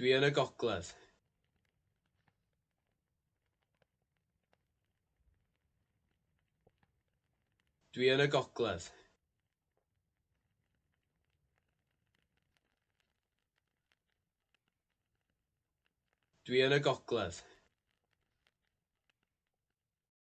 Dwi yn y gogledd. Dwi yn y gogledd. Dwi yn y gogledd.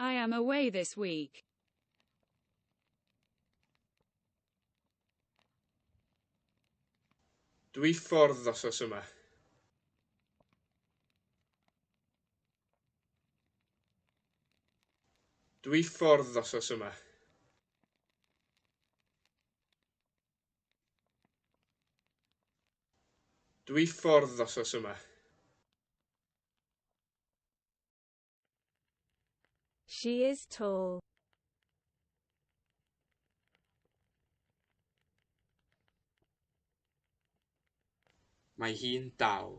I am away this week. Dwi ffordd osos yma. Dwi ffordd osos yma. Dwi ffordd ddosos yma. She is tall. Mae hi'n dal.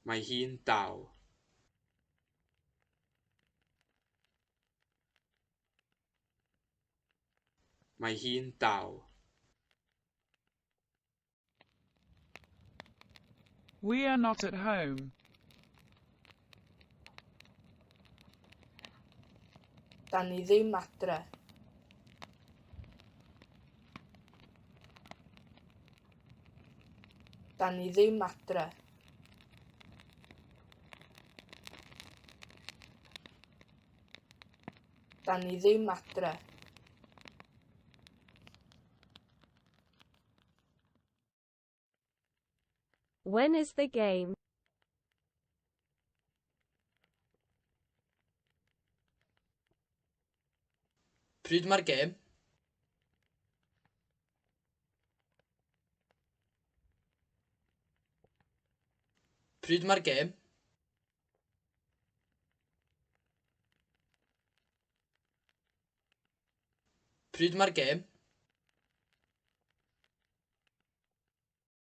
Mae hi'n dal. Mae hi'n dal. We are not at home. Da ni ddim adre. Da ni ddim adre. Da ni ddim adre. When is the game? Pryd mae'r gêm? Pryd mae'r gêm? Pryd mae'r gêm?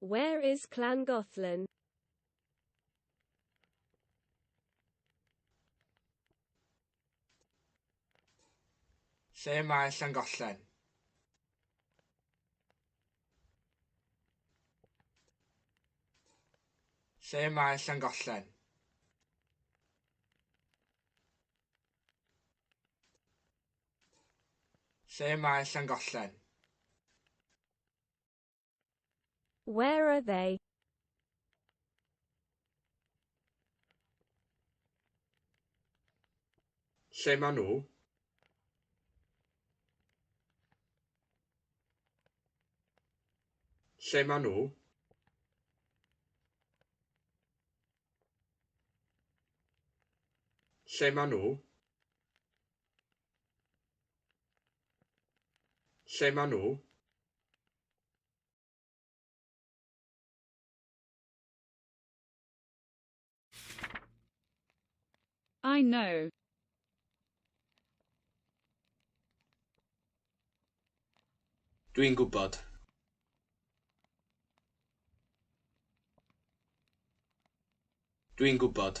Where is Llangollen? Lle mae Llangollen? Lle mae Llangollen? Lle mae Llangollen? Where are they? Lle maen nhw? Lle maen nhw? Lle maen nhw? Lle maen nhw? I know. Dwi'n gwybod. Dwi'n gwybod.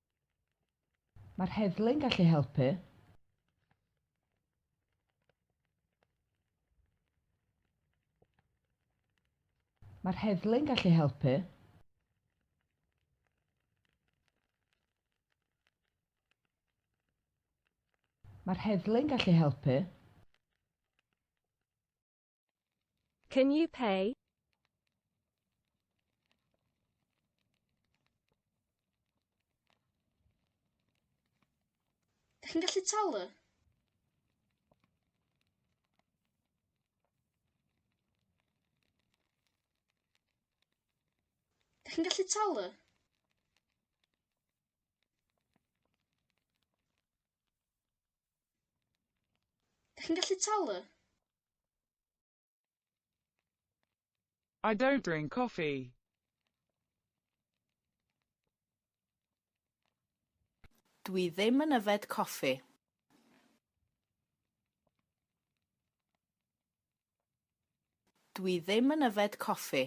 Mae'r heddlu'n gallu helpu. Mae'r heddlu'n gallu helpu. Mae'r heddlu'n gallu helpu. Can you pay? Dych chi'n gallu talu? Dych chi'n gallu talu? Dych chi'n gallu talu? I don't drink coffee. Dwi ddim yn yfed coffi. Dwi ddim yn yfed coffi.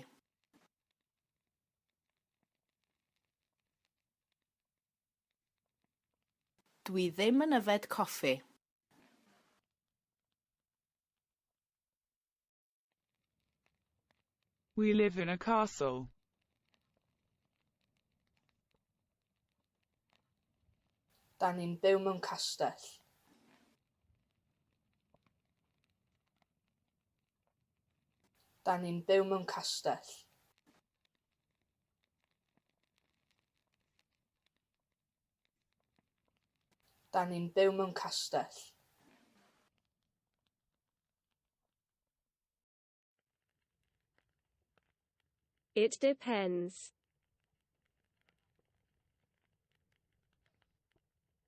Dw i ddim yn yfed coffi. We live in a castle. Da ni'n byw mewn castell. Da ni'n byw mewn castell. Dan ni'n byw mewn castell. It depends.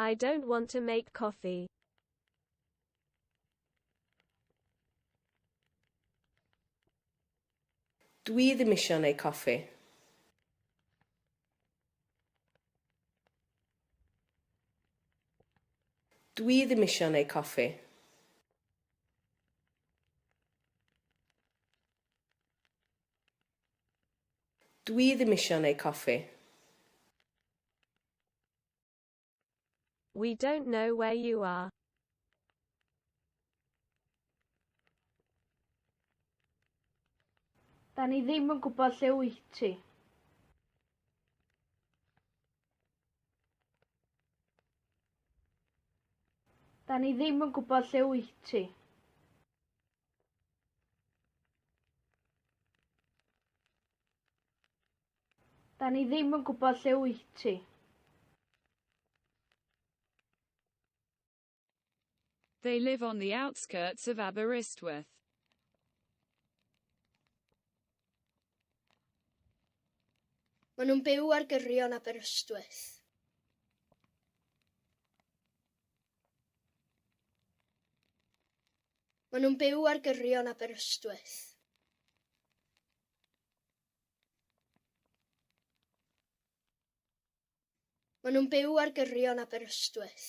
I don't want to make coffee. Dwi ddim eisiau neu coffi. Dwi ddim eisiau neu coffi. Dwi ddim isio neu coffi. We don't know where you are. Da ni ddim yn gwybod lle wyt ti. Da ni ddim yn gwybod lle wyt ti. Da ni ddim yn gwybod lle wyt ti. They live on the outskirts of Aberystwyth. Maen nhw'n byw ar gyrion Aberystwyth. Maen nhw'n byw ar gyrion Aberystwyth. Maen nhw'n byw ar gyrion Aberystwyth.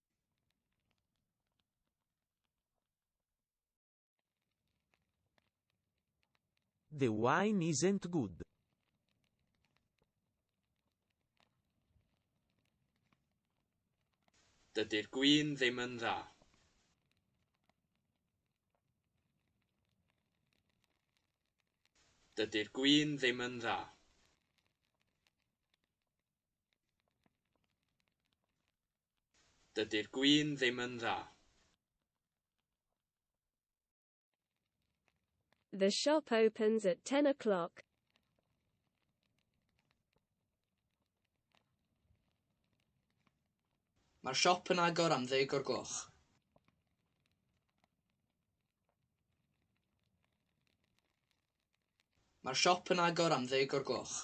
The wine isn't good. Dydy'r gwin ddim yn dda. Dydy'r gwin ddim yn dda. Dydy'r gwin ddim yn dda. The shop opens at ten o'clock. Mae'r siop yn agor am ddeg o'r gloch. Mae'r siop yn agor am ddeg o'r gloch.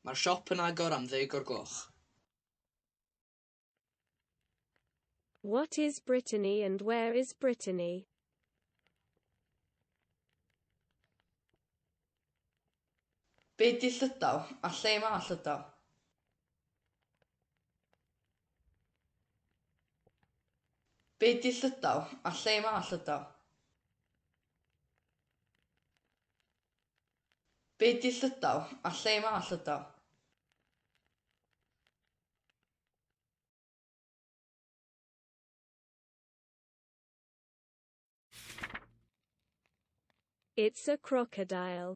Mae'r siop yn agor am ddeg o'r gloch. What is Brittany and where is Brittany? Be di Llydaw a lle mae Llydaw? Be di Llydaw a lle mae Llydaw? Be di llydaw? A lle mae llydaw? It's a crocodile.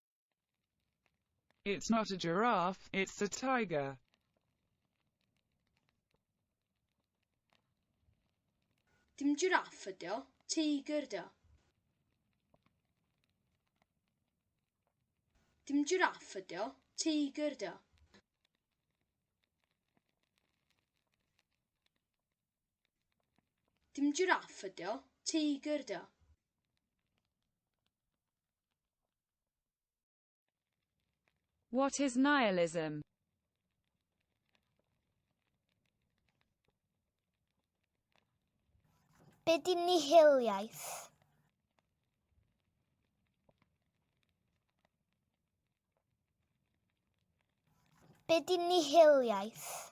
It's not a giraffe, it's a tiger. Dim jiraff ydi o, teigr ydi o. Dim jiraff ydi o, teigr ydi o. Dim jiraff ydi o, teigr ydi o. What is nihilism? Be di nihiliaeth? Be di nihiliaeth?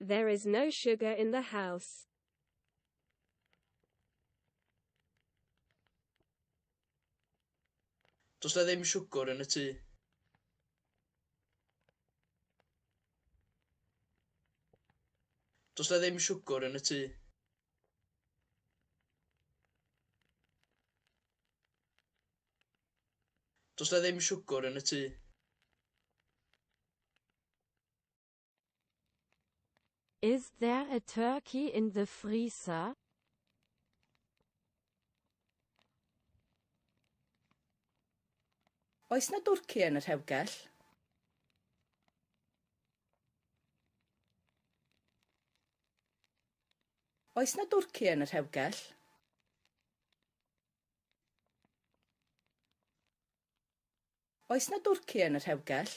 There is no sugar in the house. Does na ddim siwgr yn y tŷ. Does na ddim siwgr yn y tŷ. Does na ddim siwgr yn y tŷ. Is there a turkey in the freezer? Oes na dwrci yn y rhewgell? Oes na dwrci yn y rhewgell? Oes 'na dwrci yn y rhewgell?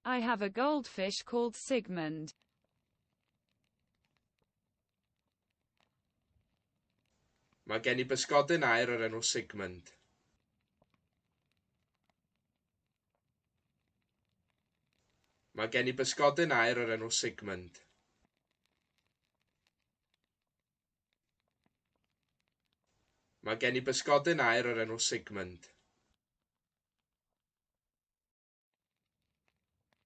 I have a goldfish called Sigmund. Mae gen i bysgodyn aer o'r enw Sigmund. Mae gen i bysgodyn aer o'r enw Sigmund. Mae gen i bysgodyn aer o'r enw Sigmund.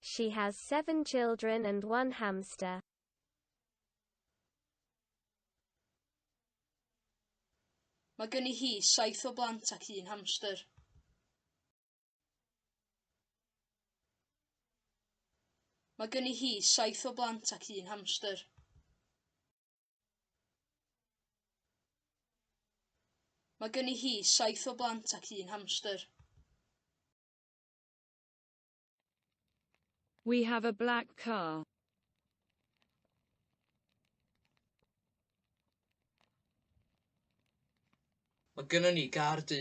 She has seven children and one hamster. Mae gen i hi saith o blant ac un hamster. Mae gen i hi saith o blant ac un hamster. Mae gen i hi saith o blant ac un hamster. We have a black car. Mae gennym ni gar du.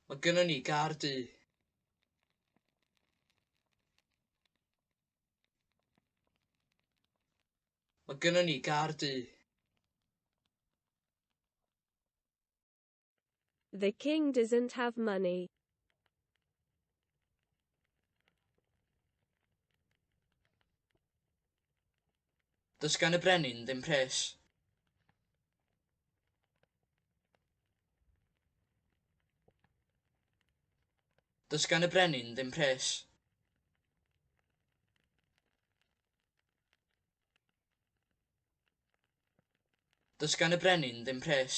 Mae gennym ni gar du. Mae gynnon ni gar du. The king doesn't have money. Does gan y brenin ddim pres. Does gan y brenin ddim pres. Does gan y brenin ddim pres.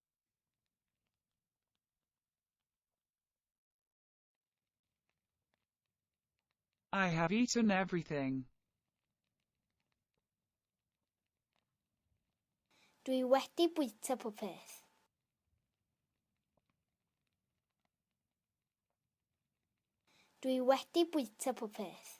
I have eaten everything. Dwi wedi bwyta pob peth. Dwi wedi bwyta pob peth.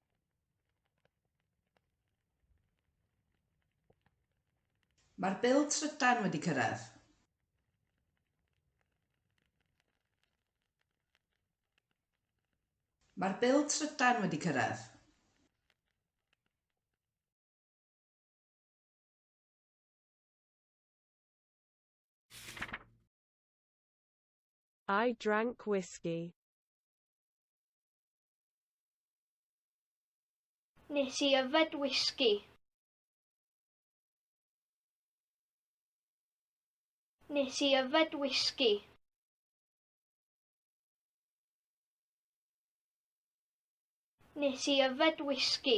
Mae'r bil trydan wedi cyrraedd. Mae'r bil trydan wedi cyrraedd. I drank whiskey. Nes i yfed whisky. Nes i yfed whisky. Nes i yfed whisky.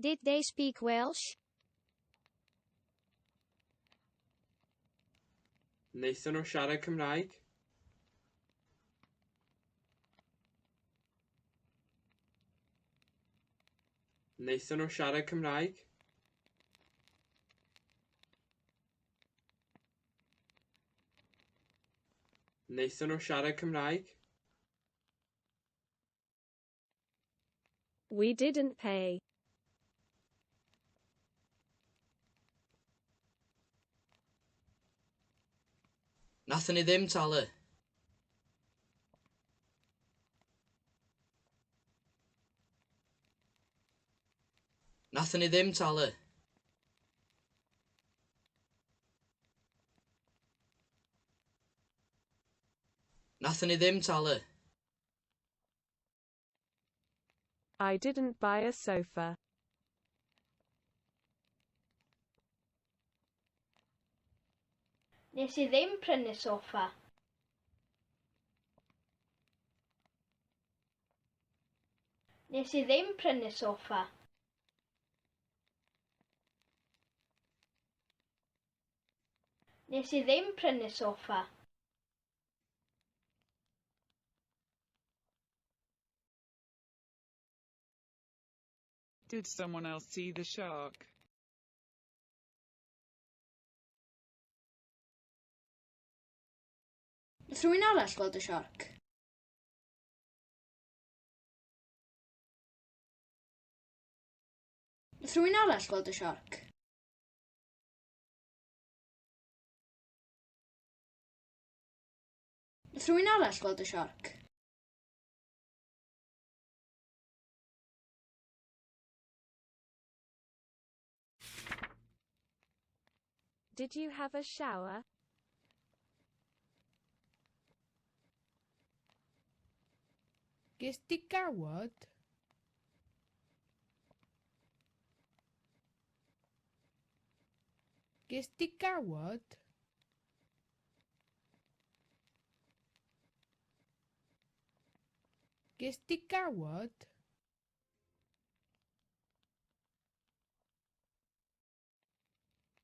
Did they speak Welsh? Wnaethon nhw siarad Cymraeg? Wnaethon nhw siarad Cymraeg? Wnaethon nhw siarad Cymraeg? We didn't pay. Nathon ni ddim talu. Nathon ni ddim talu. Nathon ni ddim talu. I didn't buy a sofa. Nes i ddim prynu sofa. Nes i ddim prynu sofa. Nes i ddim prynu sofa. Did someone else see the shark? Nes rhywun arall gweld y shark? Nes rhywun arall gweld y shark? Nath rhywun arall gweld y siorc? Did you have a shower? Ges di gawod? Ges di gawod? Ges di gawod?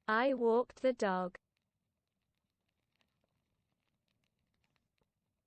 I walked the dog.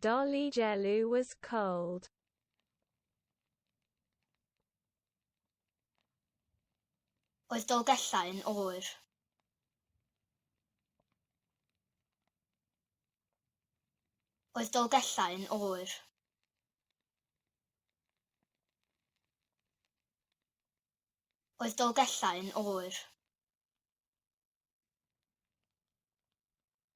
Dolly Jellu was cold. Oedd Dolgellau yn oer. Oedd Dolgellau yn oer. Oedd Dolgellau yn oer.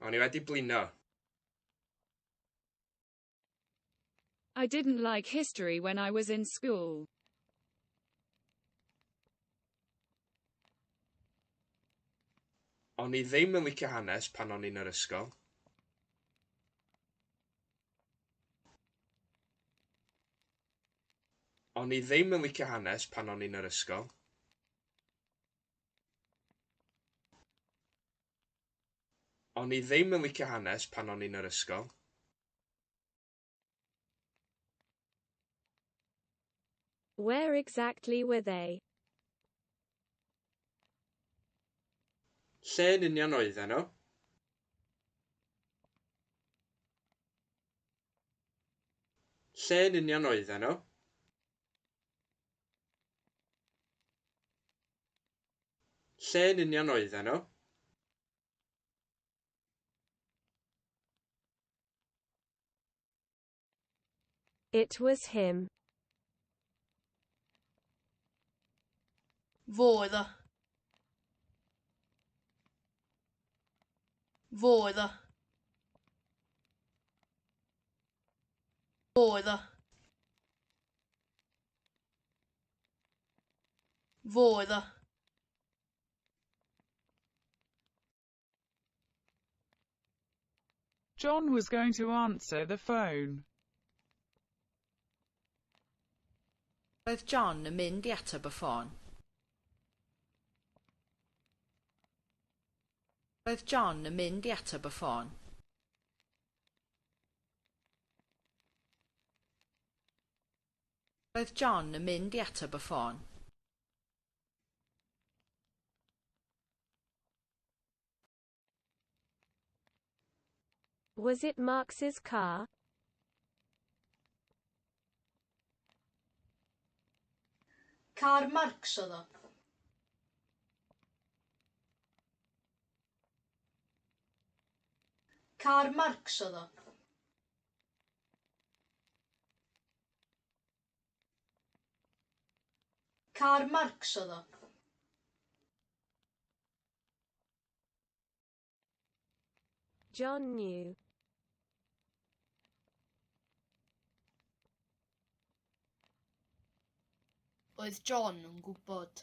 O'n i wedi blino. I didn't like history when I was in school. O'n i ddim yn licio hanes pan o'n i'n yr ysgol. O'n i ddim yn licio hanes pan o'n i'n yr ysgol. O'n i ddim yn licio hanes pan o'n i'n yr ysgol. Where exactly were they? Lle yn union oedden nhw? Lle yn union oedden nhw? Lle yn union oedden nhw? It was him. Fo oedd o. Fo oedd o. Fo oedd o. Fo oedd o. John was going to answer the phone. Roedd John yn mynd i ateb y ffôn. Roedd John yn mynd i ateb y ffôn. Roedd John yn mynd i ateb y ffôn. Was it Marx's car? Car Marx oedd o. Car Marx oedd o. Karl Marx oedd o. John New. Oedd John yn gwybod?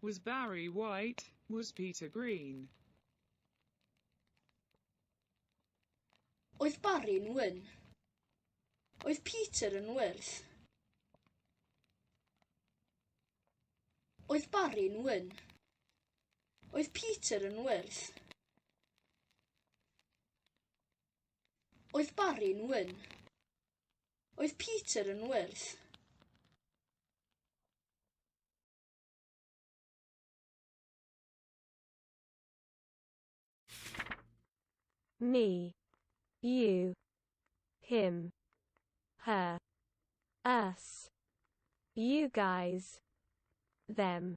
Was Barry white? Was Peter green? Oedd Barry'n wyn? Oedd Peter yn wyrdd? Oedd Barry'n wyn? Oedd Peter yn wyrdd? Oedd Barry'n wyn? Oedd Peter yn wyrdd? me, you, him, her, us, you guys, them.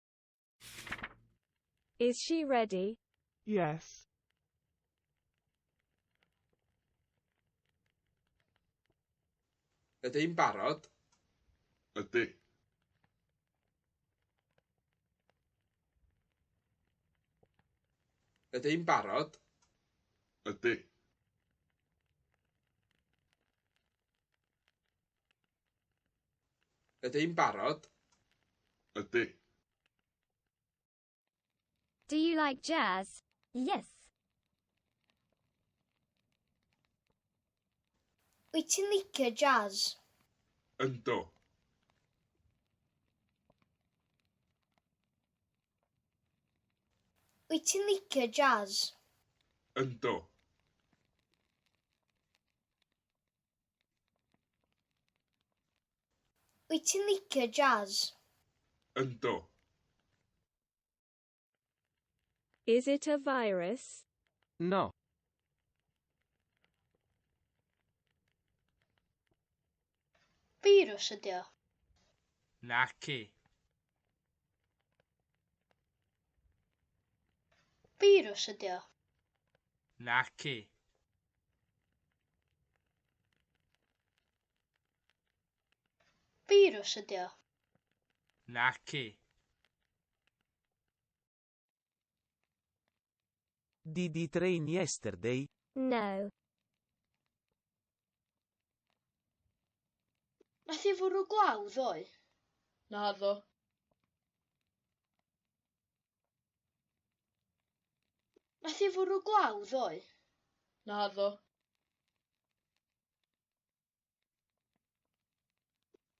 Is she ready? Yes. Ydyn barod? Ydy. Ydyn barod? Ydy. Ydy'n barod? Ydy. Do you like jazz? Yes. Wyt ti'n licio jazz? Ynddo. Wyt ti'n licio jazz? Ynddo. Wyt ti'n licio jazz? Ynddo. Is it a virus? No. Virus ydi o. Naci. Virus ydi o. Naci. Firws ydi o? Naci. Did he train yesterday? No. Nath i fwrw glaw ddoe? Naddo. Nath hi fwrw glaw ddoe? Naddo.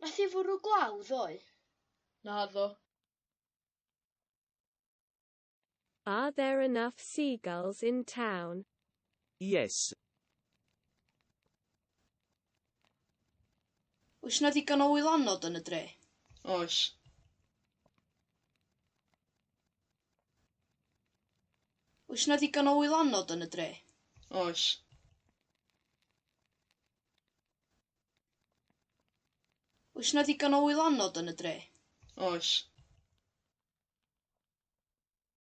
Nath hi fwrw glaw ddoe? Naddo. Are there enough seagulls in town? Yes. Oes na ddigon o wylanod yn y dre? Oes. Oes na ddigon o wylanod yn y dre? Oes. Oes na ddigon o wylanod yn y dre? Oes.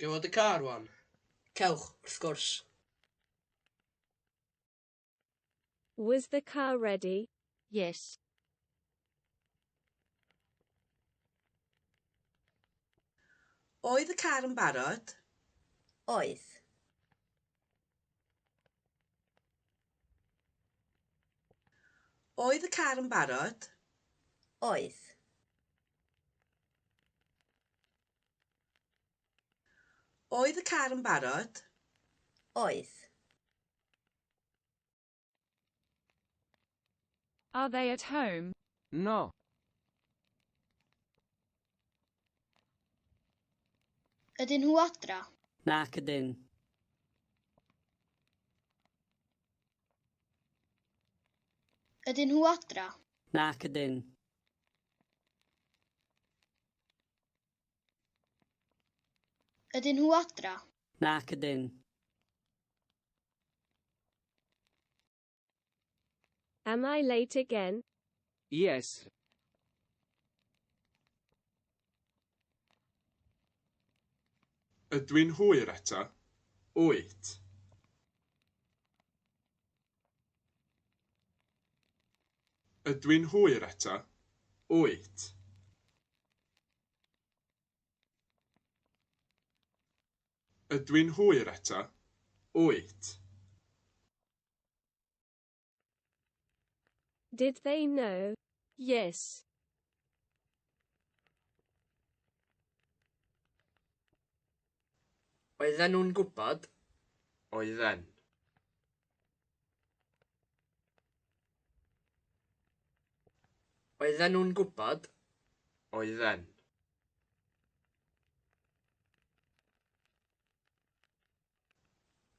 Gewch y car wan? Cewch, wrth gwrs. Was the car ready? Yes. Oedd y car yn barod? Oedd. Oedd y car yn barod? Oedd. Oedd y car yn barod? Oedd. Are they at home? No. Ydyn nhw adra? Nac ydyn. Ydyn nhw adra? Nac ydyn. Ydyn nhw adra? Nac ydyn. Am I late again? Yes. Ydw i'n hwyr eto? Wyt. Ydw i'n hwyr eto? Wyt. Ydw i'n hwyr eto? Wyt. Did they know? Yes. Oedden nhw'n gwybod? Oedden. Oedden nhw'n gwybod? Oedden.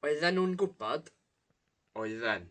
Oedden nhw'n gwybod? Oedden.